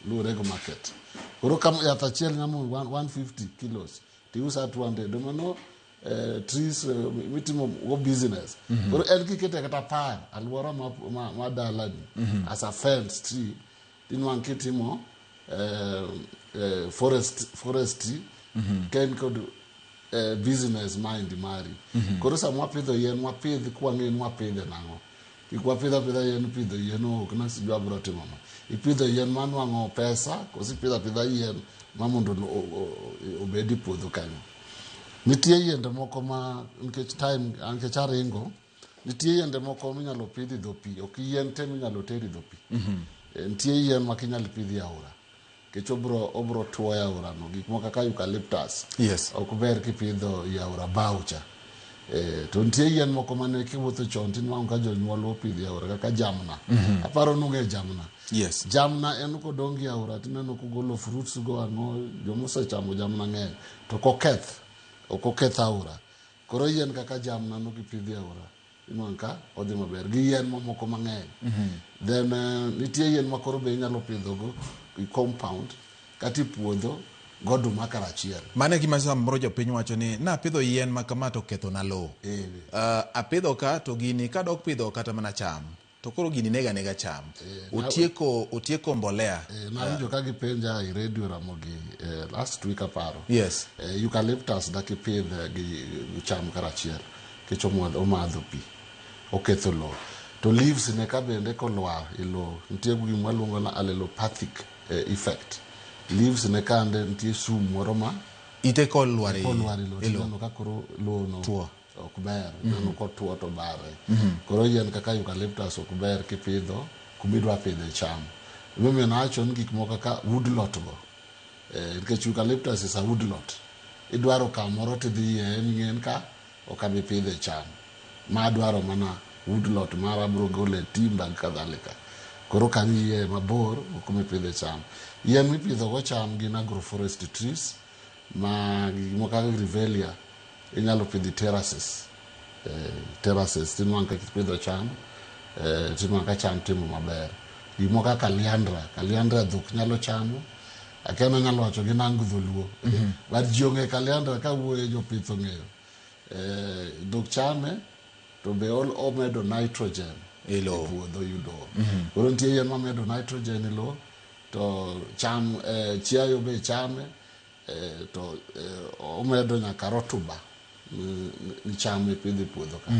luwore gi market koro kam yath achiel nyamo 150 kilos tiuse at 200 domano eh, trees eh, mitimo go business mhm. koro en kikete kata par alwora ma, ma, ma dalani mhm. as a fence tree inwang' kitimo eh, eh, forest, forestry ka in kod eh, business mind mari koro sama wapidho yien wapidh kwang'e ni wapidhe nang'o kik wapidh apidha yien pidho yien ok na sijui abiro timo ma ipidho yien manwang'o pesa koso ipidho apidha yien ma mondo o- o- o- obed e puodho kanyo nitie yiende moko ma nikech time nikech aringo Nitie yiende moko minyalo pidhi dho pi, ok yien te minyalo teri dho pi. Eh, Nitie yien ma kinyal pidhi e aora. Kech obro obro tuo e aora no, gik moko kaka eucalyptus. Yes. Ok ber kipidho i aora bao cha. Eh, to nitie yien moko mane kiwuotho chon tinwang'o ka jonyuol opidhi e aora kaka jamna. Aparo nung'e jamna. Yes. Jamna en kodongi aora tineno kogolo fruits go ang'o, jomosechamo jamna ng'eny to koketh, ok oketh aora. Koro yien kaka jamna no kipidhi aora inwang' ka odhi maber gi yien mamoko mang'eny. Then eh, nitie yien ma koro be inyalo pidhogo i compound kata i puodho goduma karachiel. Mano e gima samoro jopiny wacho ni napidho yien ma kama to kethona lowo. Eh, Ah, apidho ka to gini kadok pidho kata mana cham. To koro gini nega nega cham. Eh, na- Otieko otieko mbolea. Eh, nawinjo ka gipenja i radio ramogi eh, last week aparo Yes. eh, eucalyptus dakipidh eh, gi gi cham karachiel kech omadho omadho pi oketho lowo to leaves ne ka bende kolwar e lowo nitie gima luongo na allelopathic eh, effect leaves ne kande nitie sum moro ma Ite kolwar e kolwar e lowo e lowo. tineno ka koro lowo no Two. ok ber neno kotwo to bawe. Koro yien kaka eucalyptus ok ber kipidho kuma idwa pidhe cham. Emomiyo nawacho ni gik moko kaka woodlot go, eh, nikech eucalyptus is a woodlot. Idwaro kamoro tidhi yieye ming'eni ka ok abi pidhe cham. Ma adwaro mana woodlot mara abiro gole timba gi kadhalika. Koro ok ang' iyieye mabor gi kuma ipidhe cham. Yien mipidhogo cham gin agroforestry trees. Ma gik moko kaka Grevillea inyalo pidho e terraces. Eh, terraces tinwang' ka kipidho cham, eh, tinwang' ka cham timo maber. Gik moko kaka Caliandra, Caliandra dhok nyalo chamo. Akia ni anyalo wacho gi nango dholuo. But ji ong'e Caliandra ka wuoye jopith ong'eyo. Eh, dhok chame to be ol- omedo nitrogen e Ilo. puodho yudo. Koro nitie yien mamedo nitrogen e lowo To cham, eh, chiayo be chame, eh, to eh, omedo nyaka rotuba mi- mi- micham ipidho e puodho ka.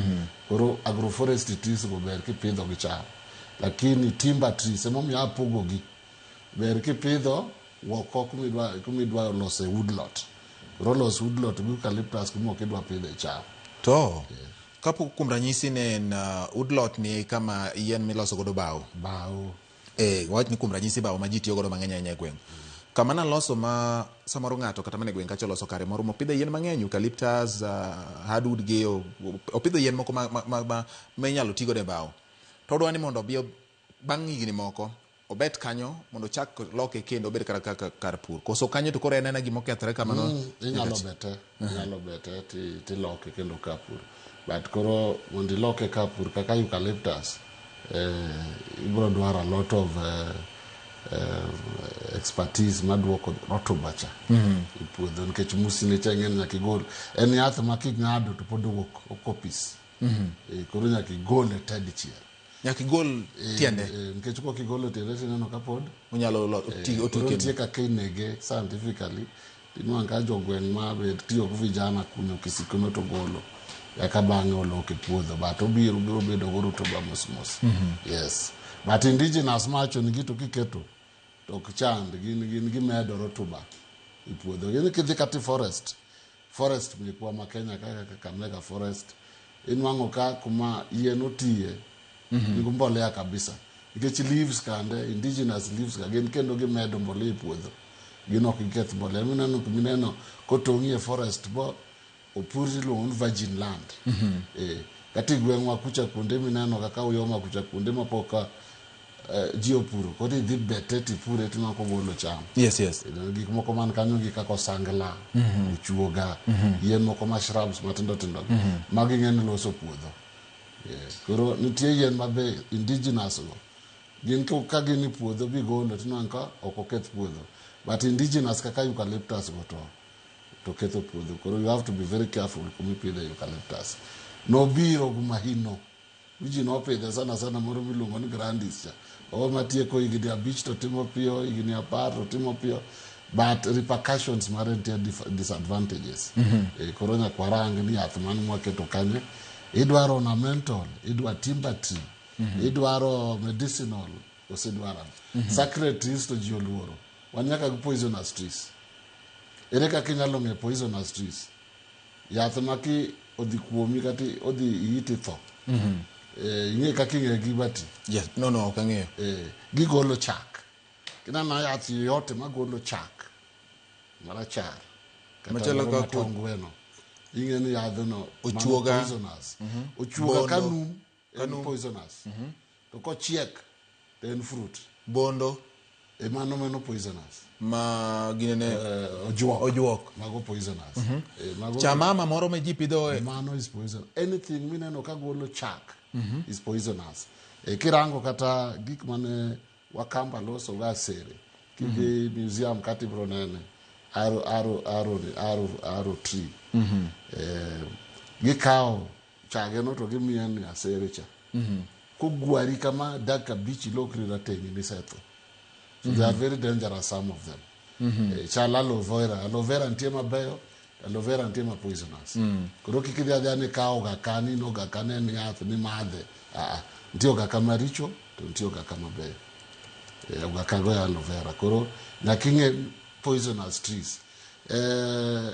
Koro agroforestry trees go ber kipidho gi cham. Lakini timber trees emomiyo apogogi. Ber kipidho woko kumidwa kumidwa lose woodlot. Koro los woodlot gi eucalyptus kuma ok idwa pidho e cham. To kapo kuom ranyisi ne en uh, woodlot ni kama yien miloso godo bao. Bao. Eh, wawach ni kuom ranyisi bao ma ji tiyo godo mang'eny ahinya e gweng'. Kama naloso ma samoro ng'ato kata mana e gweng' kacha oloso kare moro mopidhe yien mang'eny, eucalyptus, uh, hardwood gi, o- opidho yien moko ma, ma, ma, ma, ma inyalo ti godo e bao. To odwa ni mondo obi ob- bang' higni moko obet kanyo mondo ochak loke kendo obed kar, kar, kar pur. Koso kanyo to koro en ena gima okethore kamano. Mm, inyalo bete. Inyalo bete ti- tiloke kendo kapur but koro mondo iloke kapur kaka eucalyptus eh, ibiro dwaro a lot of eh, eh, expertise maduoko rotuba cha e puodho nikech musine cha ing'eni nyaka igol en yath ma king'ado to pod owuok okopis Eh, koro nyaka igole te dichiel nyaka igol Eh, tiende eh, nikech kokigolo tiende tineno kapod onyalo lo- oti- oti kendo. nitie kaka inege scientifically Inwang' ka jogweng' ma be tiyo gi vijana kunyo kisikono to golo eka bang'e olok e puodho but obiro biro bedo go rutuba mos mos yes but indigenous macho ni gitu kiketo to ok chand gin gin gimedo rutuba e puodho gin kidhi kati forest forest mekwa ma Kenya kaka Kakamega forest inwang'o ka kuma yien otiye nigi mbolea kabisa nikech leaves kande indigenous leaves ka gin kendo gimedo mbolea e puodho gin ok giketh mbolea mineno mineno kotong'i e forest bo opur iluongo ni virgin land eh kata e gweng'wa kucha kuonde mineno kaka uyoma kucha kuonde mapok ka eh, ji opuro koro idhi bete tipure tineno kogolo cham yes yes You know, gik moko man kanyo gi kaka osangla ochuoga yien moko ma shrubs matindo tindo gi magi ng'eny loso puodho yes. koro nitie yien ma be indigenous go gin ko- ka gin e puodho bigolo tineno ka ok oketh puodho but indigenous kaka eucalyptus go to to ketho puodho koro you have to be very careful kuma ipidhe eucalyptus nobiro gumahino Virgin wapidhe sana sana moro miluongo ni grandis cha o matieko higni abich to timo piyo higni apar to timo piyo but repercussions mare nitie dif- disadvantages Eh, koro nyaka warang ni yath mane mwaketo kanyo idwaro ornamental idwa timber tree idwaro medicinal osedwara sacred trees to ji oluoro wan nyaka gi poisonous trees ere kaka inyalo ng'e poisonous trees Yath ma ki odhi kuomi kata odhi iyiti itho. Mhm. Eh, ing'e kaka ing'e gi bati. Yes. No, no, ok ang'eyo. Eh, gigolo chak. Kinana yath yoyote magolo chak marachar. kata Machalo moro kaka- matongweno. Ing'e ni yadhno mano Ochuoga. poisonous. Mhm. Ochuoga ka Bondo. num. en Kanu- poisonous to kochiek to en fruit bondo e mano mano poisonous ma ginene Eh, ojuok Ojuok. mago poisonous Eh, mago- chamama moro ma ji pidho e- mano is poison anything mineno ka golo chak is poisonous e, kirango kata gik mane wakamba loso ga sere kidhi museum kati bro nene aro aro aro aro aro tree e, gikawo chage no to gimiya ni asere cha mm-hmm. kogwari kama dak abich ilokri rateng' nisetho so they are mm-hmm. very dangerous some of them mm-hmm. eh, chal aloe vera aloe vera nitie mabeyo aloe vera nitie ma poisonous mm. koro kik idhi adhiya ni kawo ga ka ni no ga ka ne ni yath ni madhe aa nitie oga ka maricho to nitie oga ka mabeyo eh, oga ka go ya aloe vera koro nyaka ing'e poisonous trees eh,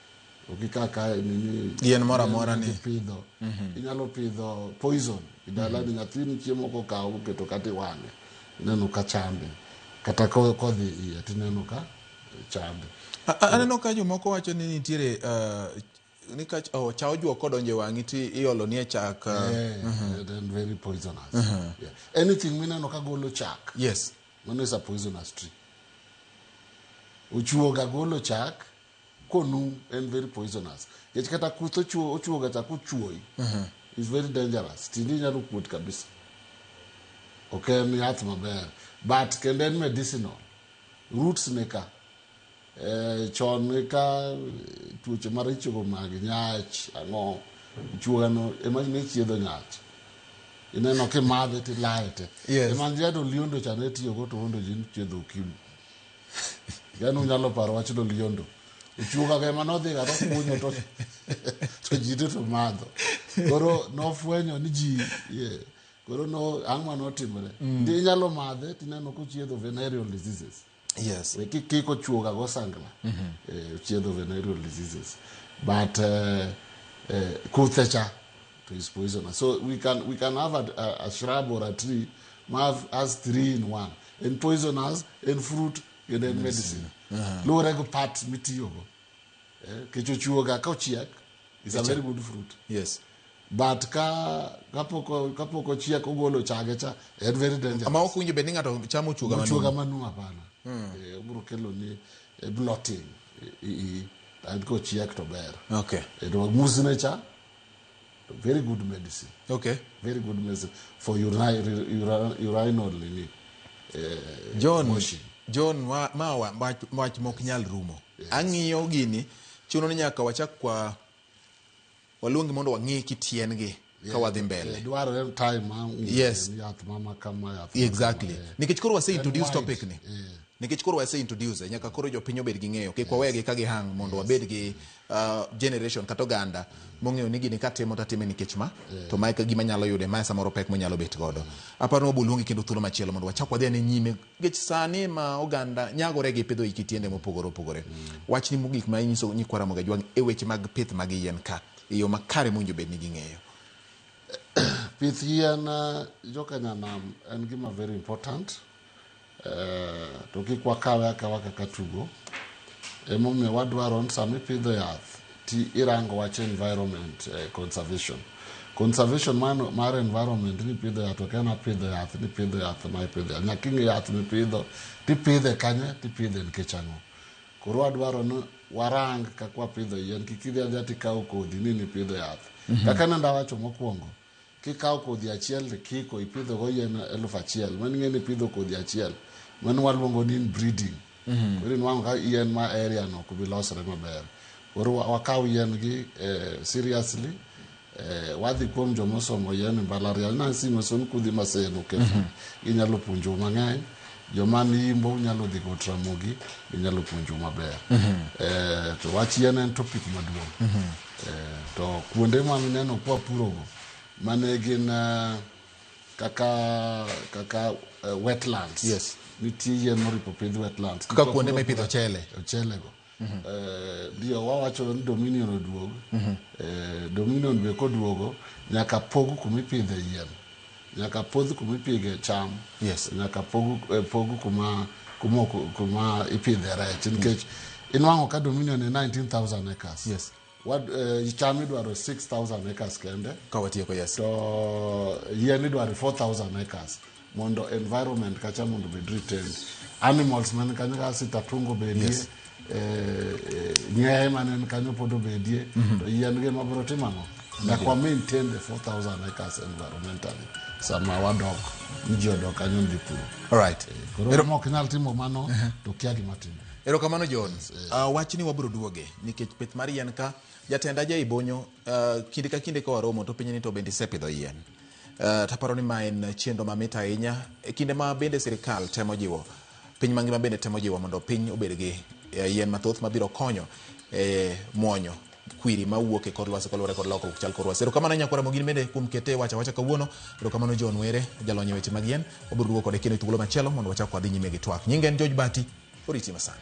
Onge kaka nini Yien moro amora ni- ipidho. Inyalo pidho poison e dalani nyathini chiemo kokawo oketo kata iwang'e. Ineno ka chande. Kata ko- kodhi iye tineno ka chande. A- a- Aneno ka jomoko wacho ni nitiere eh, ni ka ch- oh, cha ojuok kodonjo e wang'i ti iolo nie chak. eh, Yeah, then very poisonous. Yeah. Anything mineno ka golo chak. Yes. Mano is a poisonous tree. Ochuoga golo chak konu en very poisonous nikech kata kuth ochuo ochuo ga chako chuoyi is very dangerous tindi inyalo kuot kabisa ok en yath maber but kendo en medicinal roots ne ka eh, chon ne ka eh, tuoche maricho go mag nyach ang'o chuogano ema ne chiedho nyach ineno kimadhe tilaye te Yes. ema jado liondo cha ne tiyogo to ondo ji chiedho okimi yani unyalo paro wach loliondo ochuoga kema nodhi kata kunyo to to ji te to madho koro nofwenyo ni ji ye, koro no ang'ma notimore mm. ndi inyalo madhe tineno kochiedho venereal diseases yes Eh, ki- kiko chuoga go sangla mm-hmm. eh, chiedho venereal diseases but eh, eh, kuthe cha to is poisonous so we can, we can have a, a, a shrub or a tree ma have- has three in one en poisonous en fruit kendo en medicine luwore gi parts mitiyogo Eh, kech ochiwoga ka ochiek is a very good fruit yes but ka kapok o- kapok ochiek ogolo chage cha en very dangerous ama ok winjo bed ni ng'ato chamo ochuoga manumu. ochuoga manu hapana Eh, obiro kelo ni eh, blotting Eh, eh, eh, an kochiek to ber okay Eh, to musne cha Very good medicine. Okay. Very good medicine for uri- uri- uri- urinal nini. eh, John, motion. John ma, ma wa- ma- wach mok nyal rumo. Ang'iyo gini chuno ni nyaka wachak kwa waluongi mondo wang'i kitiengi ka wadhi mbele. Eh, Dwarore time ma Yes. yath mama kama yath. mama Exactly. kama, eh. Nikech koro wase introduce wide. topic ni. Eh. Nikech koro wase introduce nyaka koro jopiny obed gi ng'eyo kik wawegi ka gihang mondo wabed gi uh, generation kata oganda mong'eyo ni gini katimo to atime nikech ma yeah. to mae gima nyalo yude mae samoro pek monyalo bet godo aparo wabul luongi kendo thuolo machielo mondo wachak wadhi ane nyime nikech sani ma oganda nyagore gi pidho iki tiende mopogore opogore mm. wachni mogik ma inyiso nyikwa Ramogi Ajwang' e weche mag pith mag yien ka e yo makare mowinjo bed ni ging'eyo pith yien uh, jokanyanam en gima very important Eh, to kik wakawe akawa kaka tugo emomiyo wadwaro ni sama ipidho yath ti irango wach environment eh, conservation conservation mar, mar environment ni pidho yath ok en apidho yath ni pidho yath ma ipidho yath nyaka ing'e yath mipidho tipidhe kanye tipidhe nikech ang'o koro wadwaro ni warang kaka wapidho yien kik idhi adhiya tikawo kodhi ni nipidho yath kaka nenda wacho mokwongo Kikawo kodhi achiel to ikiko, ipidhogo yien eluf achiel. Mano ing'e ni ipidho kodhi achiel. Mano waluongo ni inbreeding. Koro inwang'o ka yien ma area no ok bi losore maber. Koro wa- wakawo yien gi eh, seriously. Eh, wadhi kuom joma osomo yien e mbalariany. Nancy Mason kudhi Masen Okefa. Ginyalo puonjou mang'eny. Joma ni Imbo unyalo dhi go Ramogi, ginyalo puonjou maber. Eh, to wach yien en topic maduong'. To kuonde ma mineno kwa purogo mane gin eh, kaka kaka eh, wetlands. Yes. Nitie yien moripo pidh wetlands. Kaka Kwa kuonde puro- mipidho ochele. Ochele go. Eh, Ndio wawacho ni Dominion oduog. Eh, Dominion be koduogo nyaka pog kumipidhe yien. Nyaka pwodh kuma ipidhe cham. Yes. Nyaka pog, eh, pog kuma, kuma, ok- kuma ipidhe rech nikech inwang'o ka Dominion e 19,000 acres. Yes. Wad, eh, cham idwaro 6,000 acres kende Ka watieko, yes. to yien idwaro 4,000 acres mondo environment kacha mondo obed retained. Animals man kanyo kaka sitatungo bedie. Yes. eh, eh, ng'eye mane en kanyo pod obedie to yien gi ma biro timo ang'o nyaka wa maintain the 4000 acres environmentally sama wadok ni ji odok kanyo dhi puro alright koro ma ok nyal timo mano to kia gima timo erokamano john uh, wachni wabiro duoge nikech pith mar yien ka jatenda ja ibonyo uh, kinde ka kinde ka waromo to penye ni to bende isepidho yien uh, taparo ni ma en chenro mamit ahinya e kinde ma bende sirikal temo jiwo Piny mangima bende temo jiwo mondo piny obed gi eh, yien mathoth mabiro konyo e mwonyo kwiri ma wuok e kor lwasi kaluwore kod lokruok chal kor lwasi. Erokamano Nyakwara Mogin bende kuom kete wacha wacha kawuono. Erokamano John Were, jalony e weche mag yien. Wabiro duogo kode kendo e thuolo machielo mondo wachak wadhi nyime gi twak. Nyinga en George Bati, oriti masani.